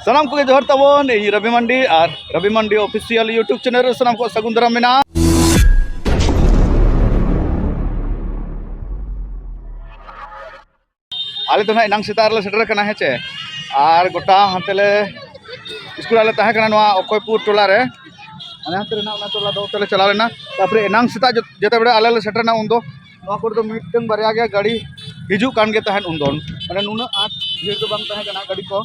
ᱥᱟᱱᱟᱢ ᱠᱚᱜᱮ ᱡᱚᱦᱟᱨ ᱛᱟᱵᱚᱱ ᱤᱧ ᱨᱚᱵᱤ ᱢᱟᱱᱰᱤ ᱟᱨ ᱨᱚᱵᱤ ᱢᱟᱱᱰᱤ ᱚᱯᱷᱤᱥᱤᱭᱟᱞ ᱤᱭᱩᱴᱩᱵᱽ ᱪᱮᱱᱮᱞ ᱨᱮ ᱥᱟᱱᱟᱢ ᱠᱚ ᱥᱟᱹᱜᱩᱱ ᱫᱟᱨᱟᱢ ᱢᱮᱱᱟᱜᱼᱟ ᱟᱞᱮ ᱫᱚ ᱱᱟᱦᱟᱜ ᱮᱱᱟᱝ ᱥᱮᱛᱟᱜ ᱨᱮᱞᱮ ᱥᱮᱴᱮᱨ ᱟᱠᱟᱱᱟ ᱦᱮᱸ ᱪᱮ ᱟᱨ ᱜᱚᱴᱟ ᱦᱟᱱᱛᱮ ᱞᱮ ᱥᱠᱩᱞ ᱟᱞᱮ ᱛᱟᱦᱮᱸ ᱠᱟᱱᱟ ᱱᱚᱣᱟ ᱚᱠᱚᱭᱯᱩᱨ ᱴᱚᱞᱟ ᱨᱮ ᱟᱞᱮ ᱦᱟᱱᱛᱮ ᱨᱮᱱᱟᱜ ᱚᱱᱟ ᱴᱚᱞᱟ ᱫᱚ ᱚᱱᱛᱮ ᱞᱮ ᱪᱟᱞᱟᱣ ᱞᱮᱱᱟ ᱛᱟᱨᱯᱚᱨᱮ ᱮᱱᱟᱝ ᱥᱮᱛᱟᱜ ᱡᱮᱛᱮ ᱵᱮᱲᱟ ᱟᱞᱮ ᱞᱮ ᱥᱮᱴᱮᱨ ᱮᱱᱟ ᱩᱱᱫᱚ ᱱᱚᱣᱟ ᱠᱚᱨᱮ ᱫᱚ ᱢᱤᱫᱴᱟᱹᱝ ᱵᱟᱨᱭᱟ ᱜᱮ ᱜᱟᱹᱰᱤ ᱦᱤᱡᱩᱜ ᱠᱟᱱ ᱜᱮ ᱛᱟᱦᱮᱸᱫ ᱩᱱᱫᱚ ᱢᱟᱱᱮ ᱱᱩᱱᱟᱹᱜ ᱟᱸᱴ ᱵᱷᱤᱲ ᱫᱚ ᱵᱟᱝ ᱛᱟᱦᱮᱸ ᱠᱟᱱᱟ ᱜᱟᱹᱰᱤ ᱠᱚ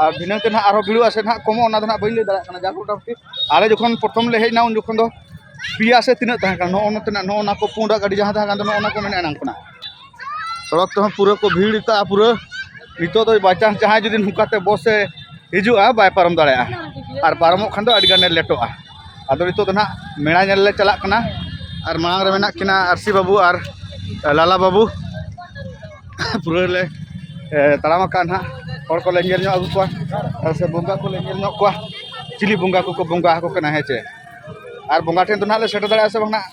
ᱟᱨ ᱫᱷᱤᱱᱟᱹᱝ ᱛᱮ ᱱᱟᱦᱟᱜ ᱟᱨᱦᱚᱸ ᱵᱷᱤᱲᱚᱜᱼᱟ ᱥᱮ ᱱᱟᱦᱟᱜ ᱠᱚᱢᱚᱜᱼᱟ ᱚᱱᱟ ᱫᱚ ᱱᱟᱦᱟᱜ ᱵᱟᱹᱧ ᱞᱟᱹᱭ ᱫᱟᱲᱮᱭᱟᱜ ᱠᱟᱱᱟ ᱡᱟᱠ ᱢᱚᱴᱟᱢᱩᱴᱤ ᱟᱞᱮ ᱡᱚᱠᱷᱚᱱ ᱯᱨᱚᱛᱷᱚᱢ ᱞᱮ ᱦᱮᱡ ᱮᱱᱟ ᱩᱱ ᱡᱚᱠᱷᱚᱱ ᱫᱚ ᱯᱮᱭᱟ ᱥᱮ ᱛᱤᱱᱟᱹᱜ ᱛᱟᱦᱮᱸ ᱠᱟᱱᱟ ᱱᱚᱜᱼᱚ ᱱᱚᱛᱮᱱᱟᱜ ᱱᱚᱜᱼᱚ ᱱᱟ ᱠᱚ ᱯᱩᱸᱰᱟᱜ ᱜᱟᱹᱰᱤ ᱡᱟᱦᱟᱸ ᱛᱟᱦᱮᱸ ᱠᱟᱱ ᱫᱚ ᱱᱚᱜᱼᱚ ᱱᱟ ᱠᱚ ᱢᱮᱱᱟᱜᱼᱟ ᱮᱱᱟᱝ ᱠᱷᱚᱱᱟᱜ ᱥᱚᱲᱚᱠ ᱛᱮᱦᱚᱸ ᱯᱩᱨᱟᱹ ᱠᱚ ᱵᱷᱤᱲ ᱠᱟᱜᱼᱟ ᱯᱩᱨᱟᱹ ᱱᱤᱛᱚᱜ ᱫᱚ ᱵᱟᱭᱪᱟᱱᱥ ᱡᱟᱦᱟᱸᱭ ᱡᱩᱫᱤ ᱱᱚᱝᱠᱟᱛᱮ ᱵᱚᱥ ᱮ ᱦᱤᱡᱩᱜᱼᱟ ᱵᱟᱭ ᱯᱟᱨᱚᱢ ᱫᱟᱲᱮᱭᱟᱜᱼᱟ ᱟᱨ ᱯᱟᱨᱚᱢᱚᱜ ᱠᱷᱟᱱ ᱫᱚ ᱟᱹᱰᱤ ᱜᱟᱱᱮ ᱞᱮᱴᱚᱜᱼᱟ ᱟᱫᱚ ᱱᱤᱛᱚᱜ ᱫᱚ ᱱᱟᱦᱟᱜ ᱢᱮᱞᱟ ᱧᱮᱞ ᱞᱮ ᱪᱟᱞᱟᱜ ᱠᱟᱱᱟ ᱟᱨ ᱢᱟᱲᱟᱝ ᱨᱮ ᱢᱮᱱᱟᱜ ᱠᱤᱱᱟ ᱟᱹᱨᱥᱤ ᱵᱟᱹᱵᱩ ᱟᱨ ᱞᱟᱞᱟ ᱵᱟᱹᱵᱩ ᱯᱩᱨᱟᱹ ᱞᱮ ᱛᱟᱲᱟᱢ ᱟᱠᱟᱫᱼᱟ ᱱᱟᱦᱟᱜ ᱦᱚᱲ ᱠᱚᱞᱮ ᱧᱮᱞ ᱧᱚᱜ ᱟᱹᱜᱩ ᱠᱚᱣᱟ ᱟᱨ ᱥᱮ ᱵᱚᱸᱜᱟ ᱠᱚᱞᱮ ᱧᱮᱞ ᱧᱚᱜ ᱠᱚᱣᱟ ᱪᱤᱞᱤ ᱵᱚᱸᱜᱟ ᱠᱚᱠᱚ ᱵᱚᱸᱜᱟ ᱟᱠᱚ ᱠᱟᱱᱟ ᱦᱮᱸ ᱪᱮ ᱟᱨ ᱵᱚᱸᱜᱟ ᱴᱷᱮᱱ ᱫᱚ ᱱᱟᱦᱟᱜ ᱞᱮ ᱥᱮᱴᱮᱨ ᱫᱟᱲᱮᱭᱟᱜᱼᱟ ᱥᱮ ᱵᱟᱝ ᱱᱟᱦᱟᱜ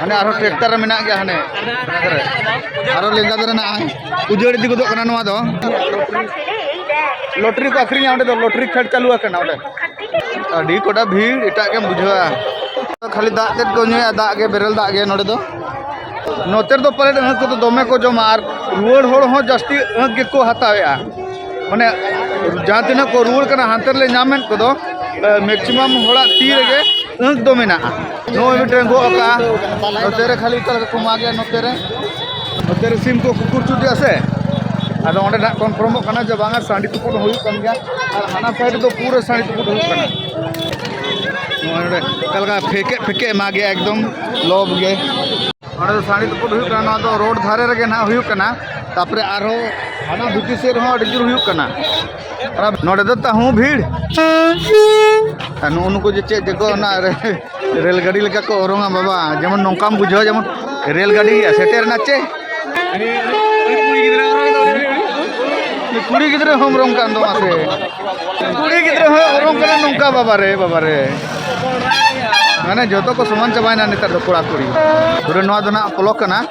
ᱦᱟᱱᱮ ᱟᱨᱦᱚᱸ ᱴᱨᱟᱠᱴᱟᱨ ᱨᱮ ᱢᱮᱱᱟᱜ ᱜᱮᱭᱟ ᱦᱟᱱᱮ ᱟᱨᱦᱚᱸ ᱞᱮᱸᱜᱟ ᱫᱷᱟᱨᱮ ᱢᱮᱱᱟᱜᱼᱟ ᱩᱡᱟᱹᱲ ᱤᱫᱤ ᱜᱚᱫᱚᱜ ᱠᱟᱱᱟ ᱱᱚᱣᱟ ᱫᱚ ᱞᱚᱴᱨᱤ ᱠᱚ ᱟᱹᱠᱷᱨᱤᱧᱟ ᱚᱸᱰᱮ ᱫᱚ ᱞᱚᱴᱨᱤ ᱠᱷᱮᱞ ᱪᱟᱹᱞᱩ ᱟᱠᱟᱱᱟ ᱚᱸᱰᱮ ᱟᱹᱰᱤ ᱠᱚᱴᱟ ᱵᱷᱤᱲ ᱮᱴᱟᱜ ᱜᱮᱢ ᱵᱩᱡᱷᱟᱹᱣᱟ ᱠᱷᱟᱹᱞᱤ ᱫᱟᱜ ᱛᱮᱫ ᱠᱚ ᱧᱩᱭᱟ ᱫᱟᱜ ᱜᱮ ᱵᱮᱨᱮᱞ ᱫᱟᱜ ᱜᱮ ᱱᱚᱸᱰᱮ ᱫᱚ ᱱᱚᱛᱮ ᱨᱮᱫᱚ ᱯᱟᱞᱮᱫ ᱟᱹᱦᱟᱹ ᱠᱚᱫᱚ ᱫᱚᱢᱮ ᱠᱚ ᱡᱚᱢᱟ ᱟᱨ ᱨᱩᱣᱟᱹᱲ ᱦᱚᱲ ᱦᱚᱸ ᱡᱟᱹᱥᱛᱤ ᱟᱹᱦᱟᱹ ᱜᱮᱠᱚ ᱦᱟᱛᱟᱣᱮᱜᱼᱟ ᱢᱟᱱᱮ ᱡᱟᱦᱟᱸ ᱛᱤᱱᱟᱹᱜ ᱠᱚ ᱨᱩᱣᱟᱹᱲ ᱠᱟᱱᱟ ᱦᱟᱱᱛᱮ ᱨᱮᱞᱮ ᱧᱟᱢᱮᱫ ᱠᱚᱫᱚ ᱢᱮᱠᱥᱤᱢᱟᱢ ᱦᱚᱲᱟᱜ ᱛᱤ ᱨᱮᱜᱮ ᱟᱹᱦᱟᱹ ᱫᱚ ᱢᱮᱱᱟᱜᱼᱟ ᱱᱚᱜᱼᱚᱭ ᱢᱤᱫᱴᱮᱱ ᱜᱚᱜ ᱟᱠᱟᱜᱼᱟ ᱱᱚᱛᱮ ᱨᱮ ᱠᱷᱟᱹᱞᱤ ᱚᱠᱟ ᱞᱮᱠᱟ ᱠᱚ ᱢᱟᱜᱮ ᱱᱚᱛᱮ ᱨᱮ ᱱᱚᱛᱮ ᱨᱮ ᱥᱤᱢ ᱠᱚ ᱠᱩᱠᱩᱨ ᱪᱩᱴᱤᱜᱼᱟ ᱥᱮ ᱟᱫᱚ ᱚᱸᱰᱮ ᱱᱟᱜ ᱠᱚᱱᱯᱷᱟᱨᱢᱚᱜ ᱠᱟᱱᱟ ᱡᱮ ᱵᱟᱝᱟ ᱥᱟᱺᱰᱤ ᱛᱩᱯᱩᱫ ᱦᱚᱸ ᱦᱩᱭᱩᱜ ᱠᱟᱱ ᱜᱮᱭᱟ ᱟᱨ ᱦᱟᱱᱟ ᱥᱟᱭᱤᱰ ᱨᱮᱫᱚ ᱯᱩᱨᱟᱹ ᱥᱟᱺᱰᱤ ᱛᱩᱯᱩᱫ ᱦᱩᱭᱩᱜ ᱠᱟᱱᱟ ᱱᱚᱜᱼᱚᱭ ᱱᱚᱰᱮ ᱚᱠᱟ ᱞᱮᱠᱟ ᱯᱷᱮᱠᱮ ᱯᱷᱮᱠᱮ ᱮᱢᱟᱜᱮ ᱮᱠᱫᱚᱢ ᱞᱚᱵ ᱜᱮ ᱚᱸᱰᱮ ᱫᱚ ᱥᱟᱺᱰᱤ ᱛᱩᱯᱩᱫ ᱦᱩᱭᱩᱜ ᱠᱟᱱᱟ ᱱᱚᱣᱟ ᱫᱚ ᱨᱳᱰ ᱫᱷᱟᱨᱮ ᱨᱮᱜᱮ ᱱᱟᱜ ᱦᱩᱭᱩᱜ ᱠᱟᱱᱟ ᱛᱟᱨᱯᱚᱨᱮ ᱟᱨᱦᱚᱸ ᱦᱟᱱᱟ ᱵᱷᱤᱛᱤᱨ ᱥᱮᱫ ᱨᱮᱦᱚᱸ ᱟᱹᱰᱤ ᱡᱳᱨ ᱦᱩᱭᱩᱜ ᱠᱟᱱᱟ ᱱᱚᱰᱮ ᱫᱚ ᱛᱟᱦᱩ ᱵᱷᱤᱲ ᱱᱩᱜᱩ ᱱᱩᱠᱩ ᱡᱮ ᱪᱮᱫ ᱡᱮᱠᱚ ᱚᱱᱟ ᱨᱮᱞ ᱜᱟᱹᱰᱤ ᱞᱮᱠᱟ ᱠᱚ ᱚᱨᱚᱝᱟ ᱵᱟᱵᱟ ᱡᱮᱢᱚᱱ ᱱᱚᱝᱠᱟᱢ ᱵᱩᱡᱷᱟᱹᱣᱟ ᱡᱮᱢᱚᱱ ᱨᱮᱞ ᱜᱟᱹᱰᱤ ᱥᱮᱴᱮᱨ ᱮᱱᱟ ᱪᱮ ᱠᱩᱲᱤ ᱜᱤᱫᱽᱨᱟᱹ ᱦᱚᱸ ᱚᱨᱚᱝ ᱠᱟᱱ ᱫᱚ ᱢᱟᱥᱮ ᱠᱩᱲᱤ ᱜᱤᱫᱽᱨᱟᱹ ᱦᱚᱸ ᱚᱨᱚᱝ ᱠᱟᱱᱟ ᱱᱚᱝᱠᱟ ᱵᱟᱵᱟ ᱨᱮ ᱵᱟᱵᱟ ᱨᱮ ᱢᱟᱱᱮ ᱡᱚᱛᱚ ᱠᱚ ᱥᱚᱢᱟᱱ ᱪᱟᱵᱟᱭᱮᱱᱟ ᱱᱮᱛᱟᱨ ᱫᱚ ᱠᱚᱲᱟ ᱠᱩᱲᱤ ᱯᱩᱨᱟᱹ ᱱᱚᱣᱟ ᱫᱚ ᱱᱟᱜ ᱯᱚᱞᱚᱠ ᱠᱟᱱᱟ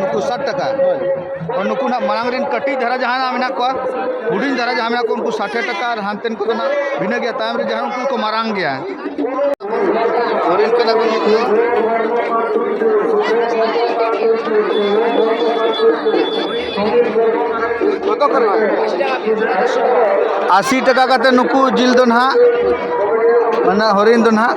ᱱᱩᱠᱩ ᱥᱟᱴ ᱴᱟᱠᱟ ᱱᱩᱠᱩ ᱱᱟᱜ ᱢᱟᱲᱟᱝ ᱨᱮᱱ ᱠᱟᱹᱴᱤᱡ ᱫᱷᱟᱨᱟ ᱡᱟᱦᱟᱸ ᱢᱮᱱᱟᱜ ᱠᱚᱣᱟ ᱦᱩᱰᱤᱧ ᱫᱷᱟᱨᱟ ᱡᱟᱦᱟᱸ ᱢᱮᱱᱟᱜ ᱠᱚᱣᱟ ᱩᱱᱠᱩ ᱥᱟᱴᱮ ᱴᱟᱠᱟ ᱟᱨ ᱦᱟᱱᱛᱮᱱ ᱠᱚᱫᱚ ᱱᱟᱜ ᱵᱷᱤᱱᱟᱹ ᱜᱮᱭᱟ ᱛᱟᱭᱚᱢ ᱨᱮ ᱡᱟᱦᱟᱸ ᱩᱱᱠᱩ ᱠᱚ ᱢᱟᱨᱟᱝ ᱜᱮᱭᱟ ᱦᱚᱨᱤᱱ ᱠᱟᱱᱟ ᱠᱚ ᱱᱩᱠᱩ ᱟᱥᱤ ᱴᱟᱠᱟ ᱠᱟᱛᱮ ᱱᱩᱠᱩ ᱡᱤᱞ ᱫᱚ ᱱᱟᱜ ᱢᱟᱱᱮ ᱦᱚᱨᱤᱱ ᱫᱚ ᱱᱟᱜ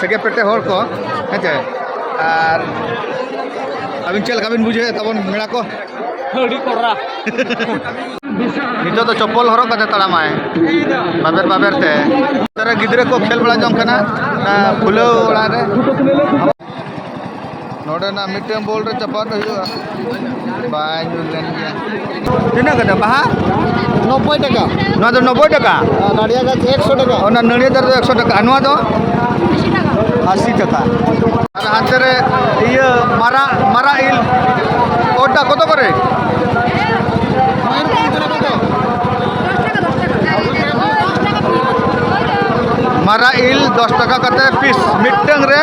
ᱥᱮᱜᱮ ᱯᱮᱴᱮ ᱦᱚᱲ ᱠᱚ ᱦᱮᱸᱪᱮ ᱟᱨ ᱟᱹᱵᱤᱱ ᱪᱮᱫ ᱞᱮᱠᱟ ᱵᱤᱱ ᱵᱩᱡᱷᱟᱹᱣᱮᱫ ᱛᱟᱵᱚᱱ ᱢᱮᱲᱟ ᱠᱚ ᱟᱹᱰᱤ ᱠᱚᱨᱟ ᱱᱤᱛᱚᱜ ᱫᱚ ᱪᱚᱯᱯᱚᱞ ᱦᱚᱨᱚᱜ ᱠᱟᱛᱮ ᱛᱟᱲᱟᱢᱟᱭ ᱵᱟᱵᱮᱨ ᱵᱟᱵᱮᱨ ᱛᱮ ᱜᱤᱫᱽᱨᱟᱹ ᱠᱚ ᱠᱷᱮᱞ ᱵᱟᱲᱟ ᱡᱚᱝ ᱠᱟᱱᱟ ᱠᱷᱩᱞᱟᱹᱣ ᱚᱲᱟᱜ ᱨᱮ ᱱᱚᱰᱮᱱᱟᱜ ᱢᱤᱫᱴᱮᱱ ᱵᱚᱞ ᱨᱮ ᱪᱟᱯᱟᱫ ᱦᱩᱭᱩᱜᱼᱟ ᱵᱟᱭ ᱧᱩᱨ ᱞᱮᱱ ᱜᱮᱭᱟ ᱛᱤᱱᱟᱹᱜ ᱠᱟᱛᱮ ᱵᱟᱦᱟ ᱱᱚᱵᱵᱳᱭ ᱴᱟᱠᱟ ᱱᱚᱣᱟ ᱫᱚ ᱱᱚᱵᱵᱳᱭ ᱴᱟᱠᱟ ᱱᱟᱲᱤᱭᱟ ᱜᱟᱪᱷ ᱮᱠᱥᱚ ᱴᱟᱠᱟ ᱚᱱᱟ ᱱᱟᱹᱲᱤᱭᱟ ᱫᱟᱨᱮ ᱫᱚ ᱮᱠᱥᱚ ᱴᱟᱠᱟ ᱱᱚᱣᱟ ᱫᱚ ᱟᱥᱤ ᱴᱟᱠᱟ ᱟᱨ ᱦᱟᱱᱛᱮ ᱨᱮ ᱤᱭᱟᱹ ᱢᱟᱨᱟ ᱢᱟᱨᱟ ᱤᱞ ᱠᱚᱴᱟ ᱠᱚᱛᱚ ᱠᱚᱨᱮ ᱢᱟᱨᱟ ᱤᱞ ᱫᱚᱥ ᱴᱟᱠᱟ ᱠᱟᱛᱮ ᱯᱤᱥ ᱢᱤᱫᱴᱟᱝ ᱨᱮ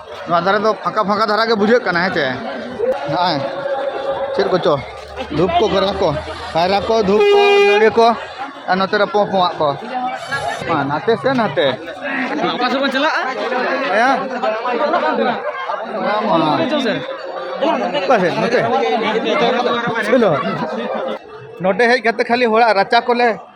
ᱱᱚᱣᱟ ᱫᱷᱟᱨᱮ ᱫᱚ ᱯᱷᱟᱸᱠᱟ ᱯᱷᱟᱸᱠᱟ ᱫᱷᱟᱨᱟ ᱜᱮ ᱵᱩᱡᱷᱟᱹᱜ ᱠᱟᱱᱟ ᱦᱮᱸ ᱪᱮ ᱱᱚᱜᱼᱚᱭ ᱪᱮᱫ ᱠᱚᱪᱚ ᱫᱷᱩᱯ ᱠᱚ ᱠᱟᱭᱨᱟ ᱠᱚ ᱠᱟᱭᱨᱟ ᱠᱚ ᱫᱷᱩᱯ ᱠᱚ ᱱᱟᱹᱲᱤ ᱠᱚ ᱟᱨ ᱱᱚᱛᱮ ᱨᱮ ᱯᱚᱸ ᱯᱚᱸᱟᱜ ᱠᱚ ᱢᱟ ᱱᱟᱛᱮ ᱥᱮ ᱱᱟᱛᱮ ᱚᱠᱟ ᱥᱮᱫ ᱵᱚᱱ ᱪᱟᱞᱟᱜᱼᱟ ᱦᱮᱸ ᱚᱠᱟ ᱥᱮᱫ ᱱᱚᱛᱮ ᱪᱚᱞᱚ ᱱᱚᱰᱮ ᱦᱮᱡ ᱠᱟᱛᱮ ᱠᱷᱟᱹᱞᱤ ᱦᱚᱲᱟᱜ ᱨᱟᱪᱟ ᱠᱚᱞᱮ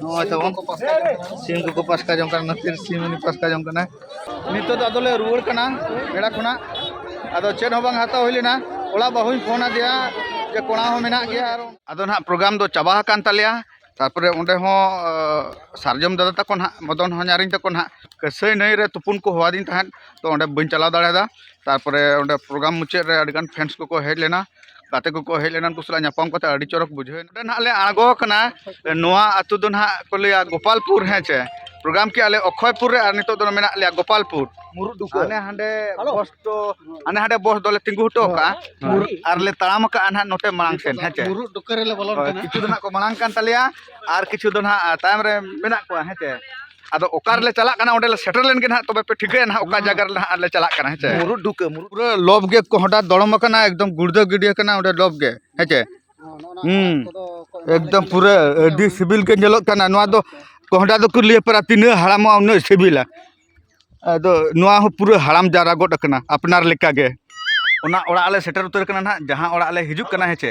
ᱱᱚᱜᱼᱚᱭ ᱛᱟᱵᱚᱱ ᱥᱤᱢ ᱠᱚᱠᱚ ᱯᱟᱥᱠᱟ ᱡᱚᱝ ᱠᱟᱱᱟ ᱱᱟᱹᱛᱤᱨ ᱥᱤᱢ ᱩᱱᱤ ᱯᱟᱥᱠᱟ ᱡᱚᱝ ᱠᱟᱱᱟ ᱱᱤᱛᱚᱜ ᱫᱚ ᱟᱫᱚᱞᱮ ᱨᱩᱣᱟᱹᱲ ᱠᱟᱱᱟ ᱵᱮᱲᱟ ᱠᱷᱚᱱᱟᱜ ᱟᱫᱚ ᱪᱮᱫ ᱦᱚᱸ ᱵᱟᱝ ᱦᱟᱛᱟᱣ ᱦᱩᱭ ᱞᱮᱱᱟ ᱚᱲᱟᱜ ᱵᱟᱹᱦᱩᱧ ᱯᱷᱳᱱ ᱟᱫᱮᱭᱟ ᱡᱮ ᱠᱚᱲᱟ ᱦᱚᱸ ᱢᱮᱱᱟᱜ ᱜᱮᱭᱟ ᱟᱫᱚ ᱱᱟᱦᱟᱜ ᱯᱨᱳᱜᱨᱟᱢ ᱫᱚ ᱪᱟᱵᱟ ᱟᱠᱟᱱ ᱛᱟᱞᱮᱭᱟ ᱛᱟᱨᱯᱚᱨᱮ ᱚᱸᱰᱮ ᱦᱚᱸ ᱥᱟᱨᱡᱚᱢ ᱫᱟᱫᱟ ᱛᱟᱠᱚ ᱱᱟᱦᱟᱜ ᱢᱚᱫᱚᱱ ᱦᱚᱧᱟᱨᱤᱧ ᱛᱟᱠᱚ ᱱᱟᱦᱟᱜ ᱠᱟᱹᱥᱟᱹᱭ ᱱᱟᱹᱭ ᱨᱮ ᱛᱩᱯᱩᱱ ᱠᱚ ᱦᱚᱦᱚᱣᱟᱫᱤᱧ ᱛᱟᱦᱮᱸᱫ ᱛᱚ ᱚᱸᱰᱮ ᱵᱟᱹᱧ ᱪᱟᱞᱟᱣ ᱫᱟᱲᱮᱭᱟᱫᱟ ᱛᱟᱨᱯᱚᱨᱮ ᱚᱸᱰᱮ ᱯᱨᱳᱜᱨᱟᱢ ᱢᱩᱪᱟᱹᱫ ᱨᱮ ᱟᱹᱰᱤᱜᱟᱱ ᱯᱷᱮᱱᱥ ᱠᱚᱠᱚ ᱦᱮᱡ ᱞᱮᱱᱟ ᱜᱟᱛᱮ ᱠᱚᱠᱚ ᱦᱮᱡ ᱞᱮᱱᱟ ᱩᱱᱠᱩ ᱥᱟᱞᱟᱜ ᱧᱟᱯᱟᱢ ᱠᱟᱛᱮ ᱟᱹᱰᱤ ᱪᱚᱨᱚᱠ ᱵᱩᱡᱷᱟᱹᱣ ᱮᱱᱟ ᱱᱚᱰᱮ ᱱᱟᱦᱟᱜ ᱞᱮ ᱟᱬᱜᱚ ᱟᱠᱟᱱᱟ ᱱᱚᱣᱟ ᱟᱹᱛᱩ ᱫᱚ ᱱᱟᱦᱟᱜ ᱠᱚ ᱞᱟᱹᱭᱟ ᱜᱳᱯᱟᱞᱯᱩᱨ ᱦᱮᱸ ᱪᱮ ᱯᱨᱳᱜᱨᱟᱢ ᱠᱮᱜᱼᱟ ᱞᱮ ᱚᱠᱠᱷᱚᱭᱯᱩᱨ ᱨᱮ ᱟᱨ ᱱᱤᱛᱚᱜ ᱫᱚ ᱢᱮᱱᱟᱜ ᱞᱮᱭᱟ ᱜᱳᱯᱟᱞᱯᱩᱨ ᱢᱩᱨᱩᱫ ᱰᱩᱠᱟᱹ ᱦᱟᱱᱮ ᱦᱟᱸᱰᱮ ᱵᱚᱥ ᱫᱚ ᱦᱟᱱᱮ ᱦᱟᱸᱰᱮ ᱵᱚᱥ ᱫᱚᱞᱮ ᱛᱤᱸᱜᱩ ᱦᱚᱴᱚ ᱠᱟᱜᱼᱟ ᱟᱨ ᱞᱮ ᱛᱟᱲᱟᱢ ᱟᱠᱟᱜᱼᱟ ᱱᱟᱦᱟᱜ ᱱᱚᱛᱮ ᱢᱟᱲᱟᱝ ᱥᱮᱱ ᱦᱮᱸ ᱪᱮ ᱢᱩᱨᱩᱫ ᱰᱩᱠᱟᱹ ᱨᱮᱞᱮ ᱵᱚᱞᱚᱱ ᱠᱟᱱᱟ ᱠᱤᱪᱷᱩ ᱫᱚ ᱱᱟᱦᱟᱜ ᱠᱚ ᱢᱟᱲᱟᱝ ᱠᱟᱱ ᱛᱟᱞᱮᱭᱟ ᱟᱨ ᱠᱤᱪᱷᱩ ᱫᱚ ᱱᱟᱦᱟᱜ ᱛᱟᱭᱚᱢ ᱨᱮ ᱢᱮᱱᱟᱜ ᱠᱚᱣᱟ ᱦᱮᱸ ᱪᱮ ᱟᱫᱚ ᱚᱠᱟ ᱨᱮᱞᱮ ᱪᱟᱞᱟᱜ ᱠᱟᱱᱟ ᱚᱸᱰᱮ ᱞᱮ ᱥᱮᱴᱮᱨ ᱞᱮᱱ ᱜᱮ ᱱᱟᱦᱟᱜ ᱛᱚᱵᱮ ᱯᱮ ᱴᱷᱤᱠᱟᱹᱭᱟ ᱱᱟᱦᱟᱜ ᱚᱠᱟ ᱡᱟᱭᱜᱟ ᱨᱮ ᱱᱟᱦᱟᱜ ᱞᱮ ᱪᱟᱞᱟᱜ ᱠᱟᱱᱟ ᱦᱮᱸᱥᱮ ᱢᱩᱨᱩᱫ ᱰᱷᱩᱠᱟᱹ ᱢᱩᱨᱩᱫ ᱯᱩᱨᱟᱹ ᱞᱚᱵ ᱜᱮ ᱠᱚᱦᱰᱟ ᱫᱚᱲᱚᱢ ᱟᱠᱟᱱᱟ ᱮᱠᱫᱚᱢ ᱜᱩᱲᱫᱟᱹ ᱜᱤᱰᱤ ᱟᱠᱟᱱᱟ ᱚᱸᱰᱮ ᱞᱚᱵ ᱜᱮ ᱦᱮᱸᱥᱮ ᱦᱩᱸ ᱮᱠᱫᱚᱢ ᱯᱩᱨᱟᱹ ᱟᱹᱰᱤ ᱥᱤᱵᱤᱞ ᱜᱮ ᱧᱮᱞᱚᱜ ᱠᱟᱱᱟ ᱱᱚᱣᱟ ᱫᱚ ᱠᱚᱦᱰᱟ ᱫᱚᱠᱚ ᱞᱟᱹᱭ ᱯᱟᱨᱟ ᱛᱤᱱᱟᱹᱜ ᱦᱟᱲᱟᱢᱚᱜᱼᱟ ᱩᱱᱟᱹᱜ ᱥᱤᱵᱤᱞᱟ ᱟᱫᱚ ᱱᱚᱣᱟ ᱦᱚᱸ ᱯᱩᱨᱟᱹ ᱦᱟᱲᱟᱢ ᱡᱟᱣᱨᱟ ᱜᱚᱫ ᱟᱠᱟᱱᱟ ᱟᱯᱱᱟᱨ ᱞᱮᱠᱟ ᱜᱮ ᱚᱱᱟ ᱚᱲᱟᱜ ᱞᱮ ᱥᱮᱴᱮᱨ ᱩᱛᱟᱹᱨ ᱠᱟᱱᱟ ᱱᱟᱦᱟᱜ ᱡᱟᱦᱟᱸ ᱚᱲᱟᱜ ᱞᱮ ᱦᱤᱡᱩᱜ ᱠᱟᱱᱟ ᱦᱮᱸᱥᱮ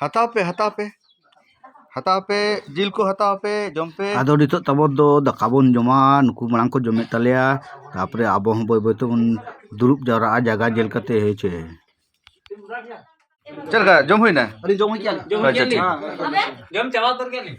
ᱦᱟᱛᱟᱣ ᱯᱮ ᱦᱟᱛᱟᱣ ᱯᱮ ᱦᱟᱛᱟᱣ ᱯᱮ ᱡᱤᱞ ᱠᱚ ᱦᱟᱛᱟᱣ ᱯᱮ ᱡᱚᱢ ᱯᱮ ᱟᱫᱚ ᱱᱤᱛᱚᱜ ᱛᱟᱵᱚ ᱫᱚ ᱫᱟᱠᱟ ᱵᱚᱱ ᱡᱚᱢᱟ ᱱᱩᱠᱩ ᱢᱟᱲᱟᱝ ᱠᱚ ᱡᱚᱢᱮᱫ ᱛᱟᱞᱮᱭᱟ ᱛᱟᱯᱚᱨᱮ ᱟᱵᱚ ᱦᱚᱸ ᱵᱟᱹᱭ ᱵᱟᱹᱭ ᱛᱮᱵᱚᱱ ᱫᱩᱲᱩᱵ ᱡᱟᱣᱨᱟᱜᱼᱟ ᱡᱟᱭᱜᱟ ᱧᱮᱞ ᱠᱟᱛᱮ ᱦᱮᱸ ᱪᱮ ᱪᱮᱫ ᱞᱮᱠᱟ ᱡᱚᱢ ᱦᱩᱭᱱᱟ ᱟᱹᱞᱤᱧ ᱡᱚᱢ ᱦᱚᱪᱚᱭᱟ ᱟᱪᱪᱷᱟ ᱴᱷᱤᱠ ᱡᱚᱢ ᱪᱟᱵᱟ ᱩᱛᱟᱹᱨ ᱠᱮᱫ ᱞᱤᱧ